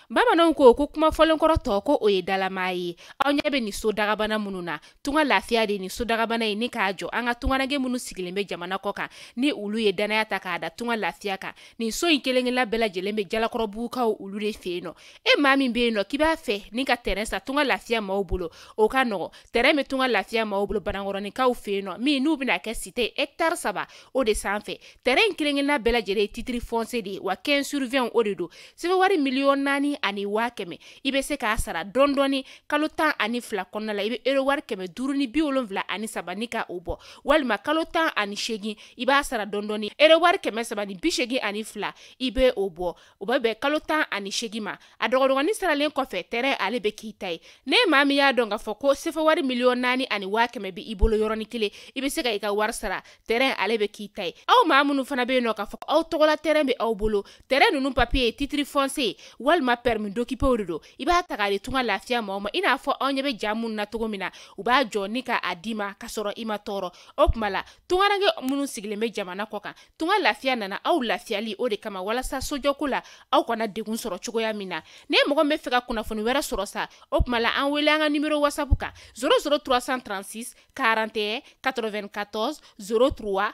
bamananw ko ko kuma fɔlenkɔrɔ tɔ ko o ye dalamaa ye aw ɲɛ bɛ nin so dagabana minnu na tunga lafiya de ye nin so dagabana ye ni k'a jɔ an ka tungaranke minnu sigilen bɛ jamana kɔ kan ni olu ye dannaya ta k'a da tunga lafiya kan nin so in kelen-kelenna bɛɛ lajɛlen bɛ jalakɔrɔbugukaw olu de fɛ yen nɔ e maa min bɛ yen nɔ k'i b'a fɛ ni ka tɛrɛn san tunga lafiya maaw bolo o ka nɔgɔ tɛrɛn bɛ tunga lafiya maaw bolo banankɔrɔninkaw fɛ yen nɔ min n'u bɛna kɛ site hɛkitari saba o de sanfɛ tɛrɛn in kelen-kelenna bɛɛ lajɛlen ye titiri fɔnsiye de ye wa 15 sur 20 o de don sefa wari miliyɔn naani ani waa kɛmɛ i bɛ se k'a sara dɔɔni dɔɔni kalo tan ani fila kɔnɔna la i bɛ euro wari kɛmɛ duuru ni bi wolonwula ani saba ni ka o bɔ walima kalo tan ani seegin i b'a sara dɔɔni dɔɔni euro wari kɛmɛ saba ni bi seegin ani fila i bɛ o bɔ o bɛ bɛn kalo tan ani seegin ma a dɔgɔdɔgɔnin saralen kɔfɛ tɛrɛn ale bɛ k'i ta ye ni maa min y'a dɔn k'a fɔ ko sefa wari miliyɔn naani ani waa kɛmɛ bɛ i bolo yɔrɔnin kelen i bɛ se ka i ka wari sara tɛrɛn ale bɛ k'i ta ye aw maa minnu fana bɛ yen nɔ k'a fɔ aw tɔgɔla tɛrɛn bɛ aw bolo tɛrɛn ninnu papiye ye titiri fɔnsiye walima pɛrɛmi dokipe o de don i b'a ta k'a di tunga lafiya maaw ma i n'a fɔ aw ɲɛ bɛ ja minnu na cogo min na u b'a jɔ ni ka a di i ma ka sɔrɔ i ma tɔɔrɔ o tuma la tungaranke minnu sigilen bɛ jamana kɔ kan tunga lafiya nana aw lafiyali o de kama walasa sojɔko la aw kana degun sɔrɔ cogoya min na ni mɔgɔ b'a fɛ ka kunnafoni wɛrɛ sɔrɔ sa o tuma la an wele an ka nimero wasapu kan 00 336 41 94 03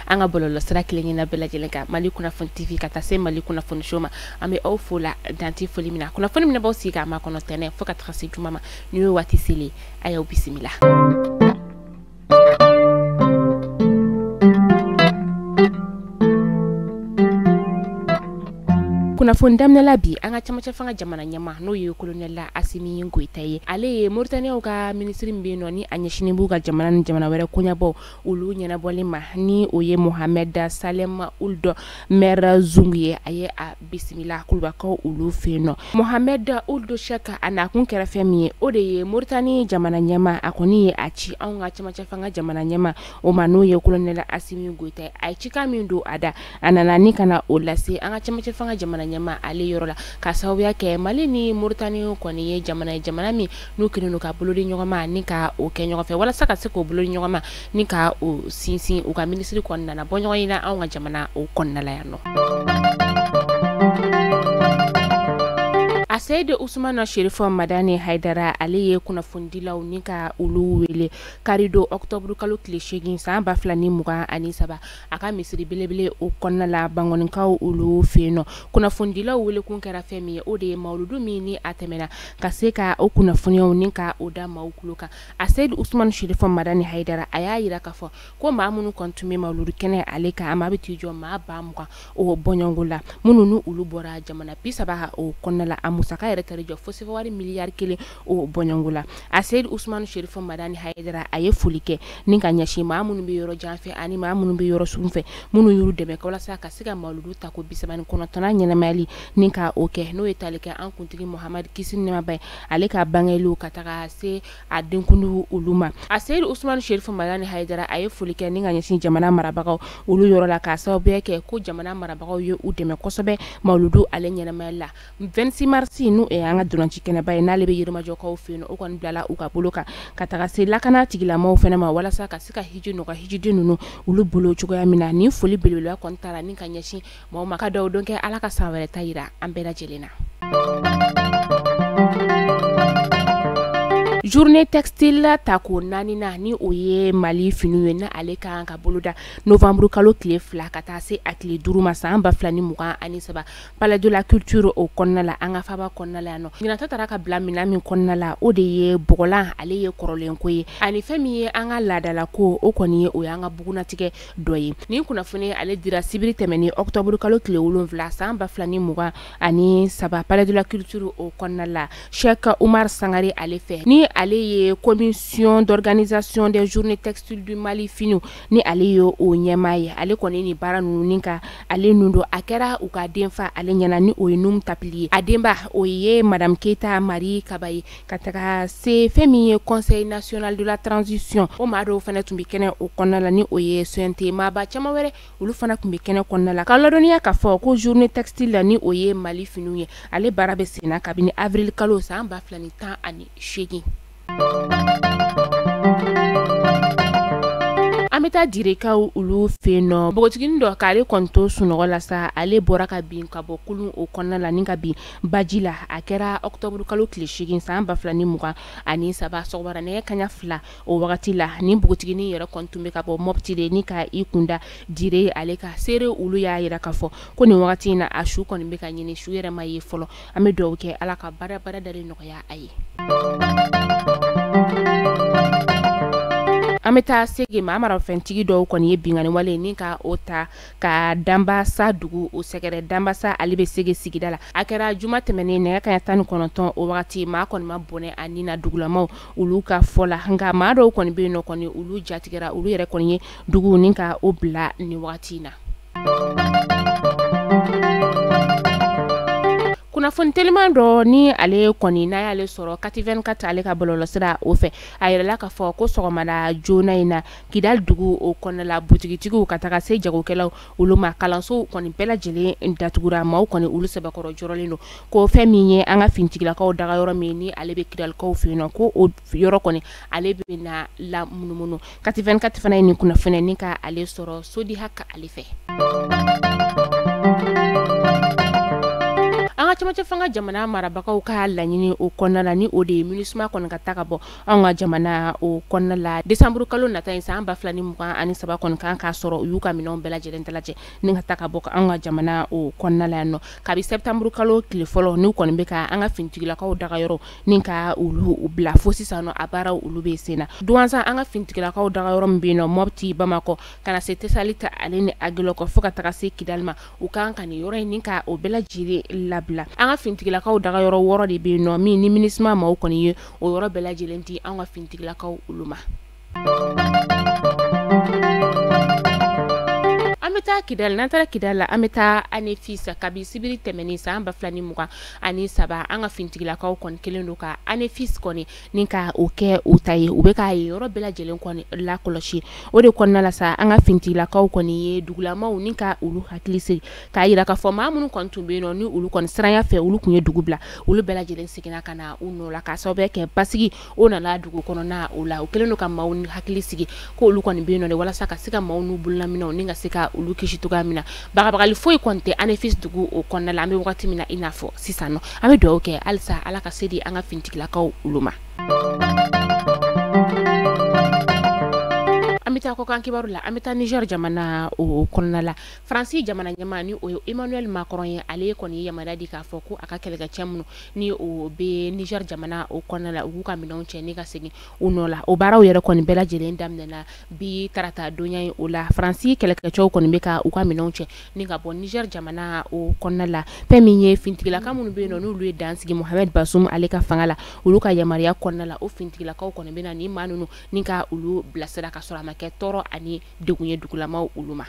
an ka bɔlɔlɔ sira kelen-kelenna bɛɛ lajɛlen kan mali kunnafoni tv ka taa se mali kunnafoni show ma an bɛ aw fo la dan tɛ foli min na kunnafoni min b'aw sigi k'a makɔnɔ tɛnɛn fo ka taga se juma ma nin y'o waati selen a y'aw bisimila kunnafoni daminɛla bi an ka camancɛ fanga jamana ɲɛma n'o ye kolonɛla asimi goyita ye ale ye moritaniyaw ka minisiri min bɛ yen nɔ ni a ɲɛsinnen b'u ka jamana ni jamana wɛrɛ koɲɛbaw olu ɲɛnabɔli ma ni o ye mohamɛd salɛm uld mɛrzug ye a ye a bisimila kulubakaw olu fɛ yen nɔ mohamɛd uld shɛki a nakun kɛra fɛn min ye o de ye moritani jamana ɲɛma a kɔni ye a ci anw ka camancɛ fanga jamana ɲɛma o ma n'o ye kolonɛla asimi goyita ye a ye cikan min don a da a nana ni ka na o lase an ka camancɛ fanga jamana ɲɛma ale yɔrɔ la ka sababuya kɛ mali ni moritani kɔni ye jamana ye jamana min n'u kɛlen don ka bolo di ɲɔgɔn ma ni ka o kɛ ɲɔgɔn fɛ walasa ka se k'o bolo di ɲɔgɔn ma ni ka o sinsin u ka minisiri kɔni nana bɔ ɲɔgɔnye na anw ka jamana o kɔnɔna la yan nɔ. aseyidi usumana sherifu madani haidara ale ye kunnafonidilaw ni ka olu wele karidon ɔktɔburu kalo tile seegin san ba fila ni mugan ani saba a ka misiri belebele o kɔnɔna la bankɔnikaw olu fɛ yen nɔ kunnafonidilaw welekun kɛra fɛn min ye o de ye mawuludu min ni a tɛmɛna ka se ka o kunnafoniyaw ni ka o da maaw tulo kan a seyidu usumani shirifɔ madani hayidara a y'a yira k'a fɔ ko maa minnu kɔni tun bɛ mawuludu kɛnɛ ale kan a maa bɛ t'i jɔ maa ba mugan o bɔɲɔgɔnko la minnu ni olu bɔra jamana bi saba ka o kɔnɔna la a musaka yɛrɛ taar'i jɔ fo sefawari miliyari kelen o bɔɲɔgɔnko la a seyidu usumani shirifɔ madani hayidara a ye foli kɛ ni ka ɲɛsin maa minnu bɛ yɔrɔ jan fɛ ani maa minnu bɛ yɔrɔ sun fɛ minnu y'u dɛmɛ walasa ka se ka mawuludu ta ko bi saba ni kɔnɔntɔnnan ɲɛnamayali ni ka o kɛ n'o ye tali kɛ an kuntigi muhamadu kisi ni nɛɛma b'a ye ale ka bangeli ka taga se a denkundi olu ma a seyidu usumani shirifɔ madani hayidara a ye foli kɛ ni ka ɲɛsin jamana marabagaw olu yɔrɔ la ka sababuya kɛ ko jamana marabagaw ye u dɛmɛ kosɛbɛ mawuludu ale ɲɛnamayali la vingt-six mars n'o ye an ka ntolanci kɛnɛba ye n'ale bɛ yirimajɔkaw fɛ yen o kɔni bilala u ka bolo kan ka taga se lakana tigilamaaw fana ma walasa ka se ka hiji nɔgɔya hijiden ninnu olu bolo cogoya min na ni foli belebeleba kɔni taara ni ka ɲɛsin maaw ma ka dugawu don kɛ ala ka san wɛrɛ ta yira an bɛɛ lajɛlen na journée textile ta ko naani na ni o ye mali fini ye na ale ka kan ka boloda novembre kalo tile fila ka taa se a tile duuru ma san ba fila ni mugan ani saba palais de la culture o kɔnɔna la an ka faba kɔnɔna la yan nɔ ɲɛnata taara ka bila minɛn min kɔnɔna la o de ye bɔgɔlan ale ye kɔrɔlen ko ye ani fɛn min ye an ka laadala ko o kɔni ye o y'an ka bugunatigɛ dɔ ye nin kunnafoni ale dira sibiri tɛmɛnen octobre kalo tile wolonwula san ba fila ni mugan ani saba palais de la culture o kɔnɔna la Cheick Oumar Sangare ale fɛ ni ale ye commission d'organisation des journées textiles du Mali finiw ni ale ye o ɲɛmaa ye ale kɔni nin baara ninnu ni ka ale nun don a kɛra u ka denfa ale ɲɛna ni o ye Num Tapily ye a denba o ye madame Keyita Mari Kaba ye ka taga se fɛn min ye conseil national de la transition o maa dɔw fana tun bɛ kɛnɛ o kɔnɔna la ni o ye CNT maaba caman wɛrɛ olu fana tun bɛ kɛnɛ kɔnɔna la ka ladɔnniya k'a fɔ ko journée textile la ni o ye Mali finiw ye ale baara bɛ sen na kabini avril kalo san ba fila ni tan ani seegin an bɛ taa direkaw olu fɛ yen nɔ npogotiginin dɔ k'ale kɔni to sunɔgɔ la sa ale bɔra ka bin ka bɔ kulun o kɔnɔna la ni ka bin baji la a kɛra octobre kalo tile 8 san 2023 sɔgɔmada nɛgɛ kanɲɛ 2 o wagati la nin npogotiginin yɛrɛ kɔni tun bɛ ka bɔ Mopti de ni ka i kunda Dire ale ka seere olu y'a yira k'a fɔ ko nin wagati in na a su kɔni bɛ ka ɲini su yɛrɛ ma ye fɔlɔ an bɛ dugawu kɛ Ala ka badabada dalen nɔgɔya a ye an bɛ taa Segu maramafɛntigi dɔw kɔni ye binkanni wale ni ka o ta ka danbasa dugu o sɛgɛrɛ danbasa ale bɛ sege sigida la a kɛra juma tɛmɛnen nɛgɛ kaɲɛ tan ni kɔnɔntɔn o wagati maa kɔni ma bɔnɛ a ni na dugulamaw olu ka fɔ la nka maa dɔw kɔni bɛ yen nɔ kɔni olu jatigɛra olu yɛrɛ kɔni ye dugu ni ka o bila ni wagati in na kunnafoni teliman dɔ ni ale kɔni n'a y'ale sɔrɔ kati24 ale ka bɔlɔlɔsira o fɛ a yirala k'a fɔ ko sɔgɔmada joona in na Kidali dugu o kɔnɔna la butigitigiw ka taga se jagokɛlaw olu ma kalansow kɔni bɛɛ lajɛlen datugura maaw kɔni olu sɛbɛkɔrɔ jɔrɔlen don ko fɛn min ye an ka finitigilakaw daga yɔrɔ min ni ale bɛ kidalikaw fɛ yen nɔ ko o yɔrɔ kɔni ale bɛ na lamunumunu kati24 fana ye nin kunnafoni ni ka ale sɔrɔ Sodi Haka ale fɛ an ka cɛmancɛ fanga jamana marabagaw ka laɲini o kɔnɔna la ni o de ye Minusma kɔni ka taa ka bɔ an ka jamana o kɔnɔna la décembre kalo nata in san ba fila ni mugan ani saba kɔni kan k'a sɔrɔ u y'u ka minɛnw bɛɛ lajɛlen dalajɛ ni ka taa ka bɔ an ka jamana o kɔnɔna la yan nɔ kabi septembre kalo tile fɔlɔ n'u kɔni bɛ ka an ka finitigilakaw daga yɔrɔ ni ka olu bila fo sisan nɔ a baaraw olu bɛ sen na duwansan an ka finitigilakaw daga yɔrɔ min bɛ yen nɔ mɔpti bamakɔ ka na se tesaliti ale ni agilɔkɔ fo ka taga se kidali ma u kan ka nin yɔrɔ in ni ka o bɛɛ lajɛlen labila an ka finitigilakaw daga yɔrɔ wɔɔrɔ de bɛ yen nɔ min ni minusma maaw kɔni ye o yɔrɔ bɛɛ lajɛlen di an ka finitigilakaw olu ma an bɛ taa kidali n'an taara kidali la an bɛ taa anefisi kabi sibiri tɛmɛnen san ba fila ni mugan ani saba an ka finitigilakaw kɔni kɛlen don ka anefisi kɔni ni ka o kɛ u ta ye u bɛ ka yen yɔrɔ bɛɛ lajɛlen kɔni lakɔlɔsi o de kɔnɔna la sa an ka finitigilakaw kɔni ye dugulamaw ni ka olu hakili sigi k'a jira k'a fɔ maa minnu kɔni tun bɛ yen nɔ ni olu kɔni siranya fɛ olu tun ye dugu bila olu bɛɛ lajɛlen seginna ka na u nɔ la k'a sababu kɛ basigi o nana dugu kɔnɔna o la u kɛlen don ka maaw hakili sigi ko olu kɔni bɛ yen nɔ de walasa ka se ka maaw n'u bololaminɛnw ni ka se ka olu kisi cogoya min na bagabagali foyi kɔni tɛ anefisi dugu o kɔnɔna la an bɛ wagati min na i n'a fɔ sisan nɔ an bɛ dugawu kɛ halisa ala ka se di an ka finitigilakaw olu ma an bɛ taa kɔkan kibaru la an bɛ taa nizɛri jamana o kɔnɔna la faransi jamana ɲɛmaa ni o ye emmanuel macron ye ale kɔni ye yamaruya di k'a fɔ ko a ka kɛlɛkɛcɛ minnu ni o bɛ niger jamana o kɔnɔna la u k'u ka minɛnw cɛ ni ka segin u nɔ la o baaraw yɛrɛ kɔni bɛɛ lajɛlen daminɛna bi tarata donya ye o la faransi kɛlɛkɛcɛw kɔni bɛ ka u ka minɛnw cɛ ni ka bɔ niger jamana o kɔnɔna la fɛn min ye fintigilaka minnu bɛ yen nɔ n'olu ye dan sigi mohamed bazoum ale ka fanga la olu ka yamaruya kɔnɔna la o fintigilakaw kɔni bɛ na ni maa ninnu ni ka olu bilasira ka sɔrɔ a ma kɛ tɔɔrɔ ani de ye dugulamaw olu ma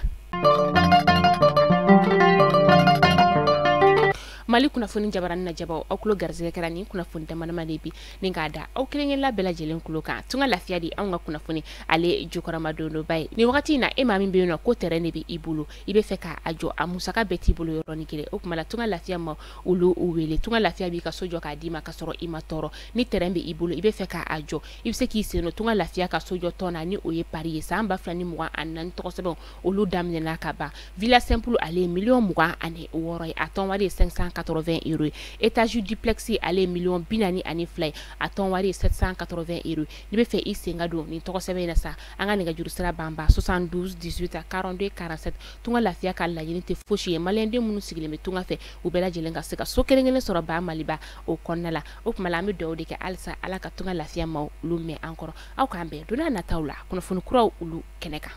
mali kunnafoni jabaranin lajɛbaw aw kulo garisɛgɛ kɛra ni kunnafoni damadama de bi ni k'a da aw kelenkelenla bɛɛ lajɛlen kulo kan tunga lafiya di anw ka kunnafoni ale jukɔrɔmadondonba ye nin wagati in na e maa min bɛ yen nɔ ko tɛrɛn de bɛ i bolo i bɛ fɛ k'a jɔ a musaka bɛɛ t'i bolo yɔrɔnin kelen o tuma la tunga lafiya maa olu wele tunga lafiya b'i ka so jɔ k'a d'i ma ka sɔrɔ i ma tɔɔrɔ ni tɛrɛn bɛ i bolo i bɛ fɛ k'a jɔ i bɛ se k'i sen don tunga lafiya ka sojɔ tɔn na ni o ye pari ye san ba fila ni mugan ani naani tɔgɔsɛbɛn olu daminɛna ka ban villa simple ale ye miliyɔn mugan ani wɔɔrɔ ye a tɔn wari ye cinq cent quatre-vingts euros ye étage duplex ale ye miliyɔn bi naani ani fila ye a tɔn wari ye sept cent quatre-vingts euros n'i bɛ fɛ i sen ka don nin tɔgɔsɛbɛn in na sa an ka nɛgɛjuru sira banba soixante-douze dix-huit quarante-deux quarante-sept tunga lafiya ka laɲini tɛ fosi ye maliyɛnden minnu sigilen bɛ tunga fɛ u bɛɛ lajɛlen ka se ka so kelen-kelen sɔrɔ ba maliba o kɔnɔna la o tuma la an bɛ dugawu de kɛ halisa ala ka tunga lafiya maa olu mɛn an kɔrɔ aw k'an bɛn don nataw la kunnafoni kuraw olu kɛnɛ kan